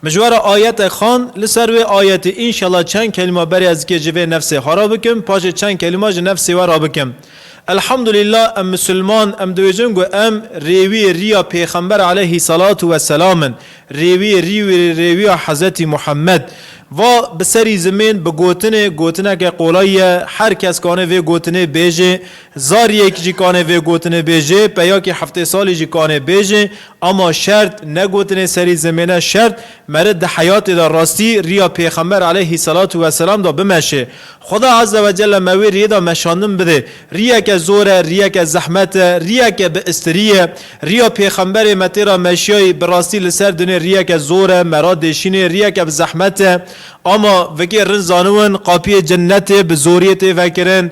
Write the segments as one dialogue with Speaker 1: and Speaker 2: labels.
Speaker 1: Mijwara ayetek xan, li ser wê ayetê înşela çend kelîma berê ez dikê ji vê nefsê xwe re bikim, paşê çend kelîma ji nefsê we re bikim. Elhamdulîla em misilman, em dibêjin ku em rêwiyê riya pêxember aleyhî selatu we selam in, rêwiyê rî wî rêwiya Hezretî Muhammed. Va bi serî zimên bi gotinê, gotineke qolay ye, her kes kanê vê gotinê bêjê, zariyek jî kanê vê gotinê bêjê, peyakî heftê salî jî kanê bêjê, Ama şert, ne gotinê serî zimêne, şert, meret di heyatê de rastî rîya Pêxember aleyhî selatû weselam de bimeşê. Xweda azze ve celle me wê riyê de meşandin bidê. Rîyeke zor e, rîyeke zehmet e, rîyeke bi istirî ye. Rîya Pêxemberê me tê ra meşiyayî bi rastî li ser dunê rîyeke zor e, me ra dêşînê, rîyeke bi zehmet e. Ama, vikê rind zaniwin, qapiyê cennetê bi zoriyê tê vekirin.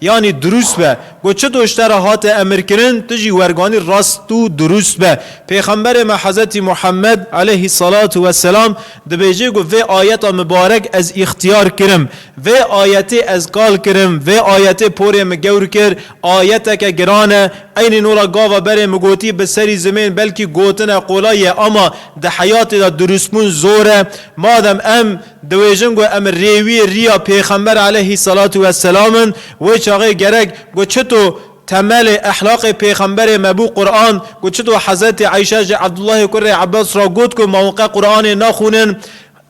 Speaker 1: Yanî dirûst be. Got çi doşte re hate emirkirin, tu jî werganî rast û dirûst be. Pêxemberê me Hezretî Muhemmed, eleyhî selatû we selam, dibêje ku vê ayeta mibarek ez îxtîyar kirim. Vê ayetê ez kal kirim, vê ayetê porê min gewr kir, ayeteke giran e. Eynî nora gava berê min gotî bi serî zimên belkî gotine qolay e ama di heyatê de dirûstbûn zor e. Madem em. Diwêjin ku em rêwiyê riya Pêxember aleyhî selatû we selam in, wê çaxê gerek ku çito temelê ehlaqê Pêxemberê me bû Quran, ku çito Hezretê Eyşe ji Ebdullahê kurê Ebas re got ku mawqe Quranê naxwînin,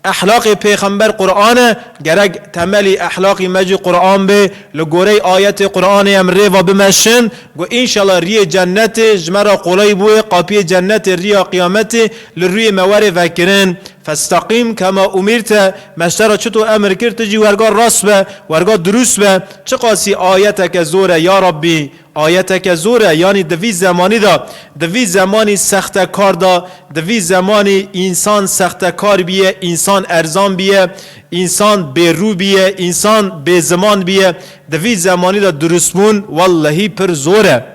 Speaker 1: ehlaqê Pêxember Quran e, gerek temelî ehlaqî me jî Quran bê, li goreyê ayetê Quranê em rêva bimeşin ku înşela riyê cenetê ji me re qolay bûyê, qapiyê cenetê riya qiyametê li rûyê me were vekirin. Festeqîm ke me umîr te, me ji te re çito emir kir, tu jî werga rast be, werga dirûst be. Çiqasî ayeteke zor e ya Rabbî, ayeteke zor e, yanî di vî zemanî de, di vî zemanî sextekar de, di vî zemanî însan sextekar bîye, însan erzan bîye, însan bêrû bîye, însan bêziman bîye, di vî zemanî de dirûstbûn wellehî pir zor e.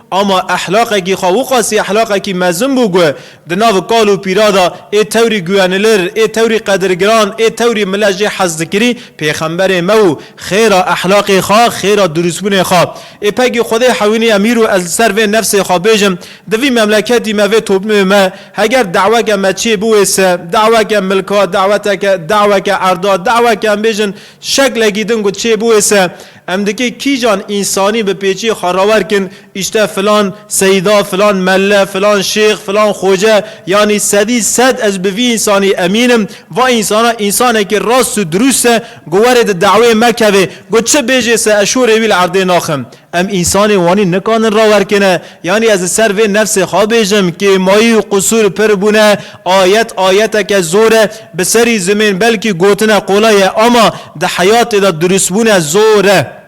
Speaker 1: Ama ehlaqekî xwe wixwasî ehlaqekî mezin bû ku di nav kal û pîra de ê tewrî guwenilir, ê tewrî qedirgiran, ê tewrî millet jê hez dikirî, pêxemberê me û xêra ehlaqê xwe, xêra dirûsbûnê xwe. Ê pegî Xwedê hewînî emîr û ez li ser vê nefsê xwe bêjim, di vî memleketî me, vê toplûmê me heger daweke me çê biwêse, daweke milka, daweteke, daweke erda, daweke em bêjin şeklekî din ku çê biwêse, Em dikê kîjan însanî bi pêçî xwe rawer kin, îşte filan seyda, filan melle, filan şêx, filan xoce, yanî sedî sed ez bi vî însanî emîn im, va însana însanekî rast û dirûst e, got were di daweyê me kevê, got çi bêjê se ez şorê wî li erdê naxim. Em însanê wanî nikandin rawer kine, yanî ez li ser vê nefsê xwe bêjim, kêmayî û qusûr pir bûne, Ayet ayeteke zor e, bi serî zimên belkî gotine qolay e ama di heyatê de durustbûne zor e.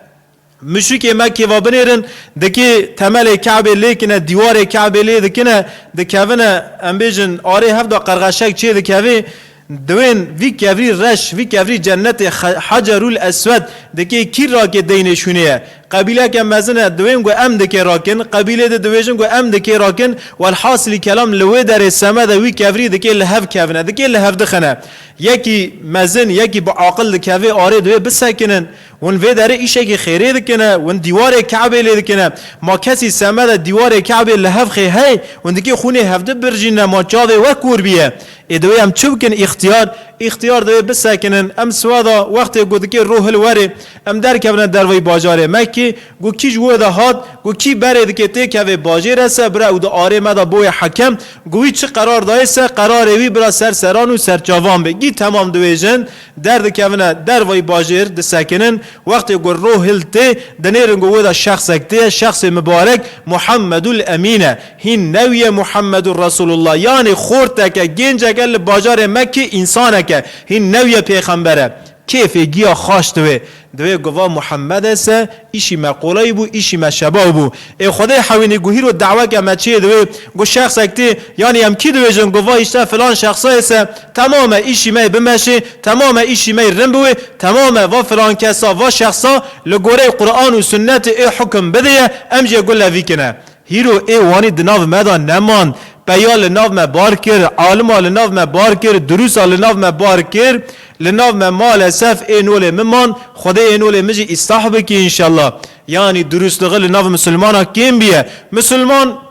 Speaker 1: Muşikê me kêva binêrin, dikê temelê Kabê lêkine, dîwarê Kabê lê dikine, dikevine em bêjin arê hevda qerxeşek çê dikevê, diwên vî kevrî reş, vî kevrî cennetê Hecerul Eswed dikê kîr rakê deynê şûnê ye. Qebîleke mezin e diwên ku em dikê rakin, qebîlê di dibêjin ku em dikê rakin, welhasilî kelam li wê derê semed e wî kevirî dikê li hev kevine, dikê li hev dixine. Yekî mezin, yekî bi aqil dikeve arê divê bisekinin. Hûn vê derê îşekî xêrê dikine, hûn dîwarê Kabê lê dikine. Ma kesî semed e dîwarê Kabê li hev xê hey, hûn dikê xûnê hevdi birjîne, ma çavê wek kûr bîye. Ê divê em çi bikin îxtiyar? Îxtiyar divê bisekinin. Em siweda wextê ku dikê rû hil werê. Em derkevine derveyî bajarê me kî, got kî ji wê de hat, got kî berê dike tê kevê bajêr e se bire û di arê me de boye hekem, got wî çi qerar dayê se qerarê wî bira ser seran û serçavan be. Gî temam diwêjin, derdikevine derveyî bajêr, disekinin, wextê ku ro hil tê, dinêrin ku wê de şexsek tê, şexsê mibarek Muhammedul Emîn e. Hîn newiye Muhammedur Resulullah, yanî xorteke, gênceke li bajarê me kî însanek e, hîn newiye pêxember e. Kêfê giya xaş diwê. Divê guva Muhammedê se îşî me qoleyî bû, îşî me şebaw bû. Ê Xwedê hewînî guhîr û deweke me çê diwê. Gu şexsek tê, yanî em kî dibêjin guva îşte filan şexsayê se temam e îşî me yê bimeşê, temam e îşî me yê rin biwê, temam e va filan kesa, va şexsa li goreyê Quran û Sunnetê ê hukim bidêye, em jê gu levîkine. Hîro ê Wanî di nav me de neman. Peya li nav me bar kir, alima li nav me bar kir, durûsa li nav me bar kir. Li nav me male sef ê nolê min man, Xwedê ê nolê min jî îstah bikî înşellah. Yanî durûsliği li nav misilmanan kêm biye. Misilman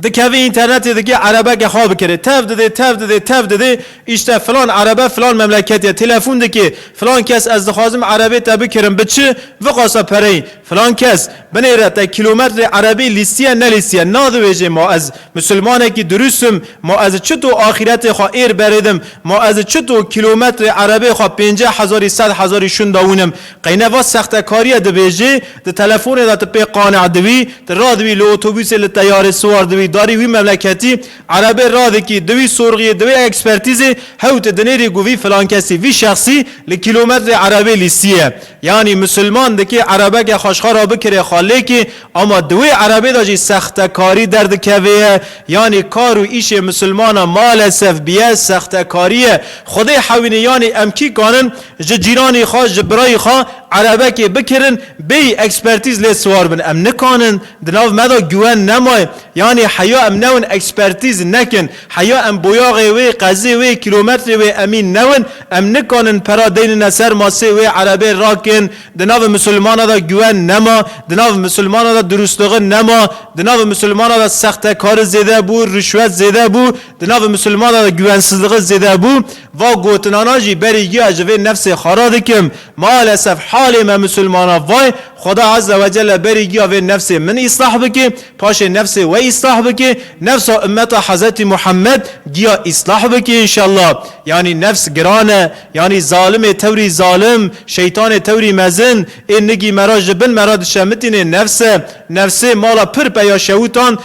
Speaker 1: dikeve înternetê dike erebeke xwe bikire. Tev dide, tev dide, tev dide, îşte filan erebe filan memleketê ye. Telefon dike, filan kes ez dixwazim erebê te bikirim, bi çi? Viqasa pereyê. Filan kes, binêre te kîlometrê erebî lîstiye nelîstiye, nadiwêjê ma ez misilmanekî dirûst im, ma ez çito axîretê xwe êr berêdim, ma ez çito kîlometrê erebê xwe pênceh hezarî sed hezarî şûnda wînim. Qeyne va sextekarîye dibêjê, di telefonê de ti pê qane'e diwî, ti radibî li otobûsê li teyarê siwar dibî darî wî memleketî, erebê radikî, di wî sorxîyê, di wî ekspertîzê, hew ti dinêrî ku vî filan kesî, vî şexsî li kîlometrê erebê lîstiye. Yanî misilman dikê erebeke xwe ji xwe re bikirê xalêkê, ama di wê erebê de jî sextekarî derdikevê ye. Yanî kar û îşê misilmanan malesef bîye sextekarî ye. Xwedê hewînî yanî em kî kanin ji cîranî xwe, ji birayî xwe erebekê bikirin bêyî ekspertîz lê siwar bin. Em nikanin di nav me de güwen nemaye. Yanî heya em newin ekspertîz nekin. Heya em boyaxê wê, qezê wê, kîlometrê wê emîn newin, em nikanin pera deynine ser masê wê erebê rakên, di navê misilmana de güwen nema, di navê misilmana de durustligi nema, di navê misilmana de sextekari zêde bû, rişwet zêde bû, di navê misilmana de güwensizligi zêde bû, va gotinana jî berî giya ji vê nefsê xara dikim. Malesef halê me misilmanan vayê, Xweda Azze ve Celle berî giya vê nefsê min îslah bikê, paşê nefsê we îslah bikê, nefsa ummeta Hezretî Muhammed giya îslah bikê înşellah. Yanî nefs giran e, yanî zalimê tewrî zalim, şeytanê tewrî mezin, ê nigî me ra ji bin me ra dişemitînê nefs e. Nefsê mala pir peya şewûtan,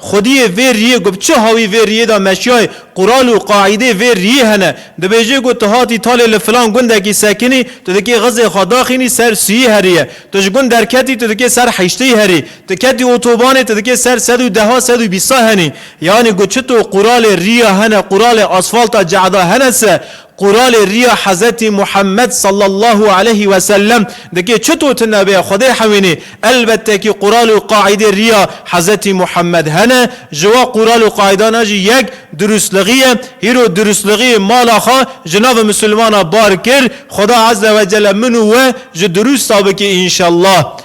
Speaker 1: Xwediyê vê riyê ku bi çi hawî vê riyê de meşiyayê, qural û qaîdê vê riyê hene, dibêje ku tu hatî talê li filan gundekî sekinî, tu dikê xizê xwe daxînî ser siyî heriyê, tu ji gund derketî tu dikê ser heşteyî herî, tu ketî otobanê tu dikê ser sed û deha sed û bîsta henî. Yanî ku çito quralê riya hene, quralê asfalta cehda hene se, Qur'anê riya Hezretî Muhammed sallallahu aleyhî wesellem dike çito ti navê Xwedê hewînî? Elbettekî Qur'an û qaîdê riya Hezretî Muhammed hene, ji wa Qur'an û qaîdana jî yek durustlixî ye. Hîro durustlixî mala xwe ji navê misilmana bar kir. Xweda Ezzewecelle min û we ji durust a bike înşellah.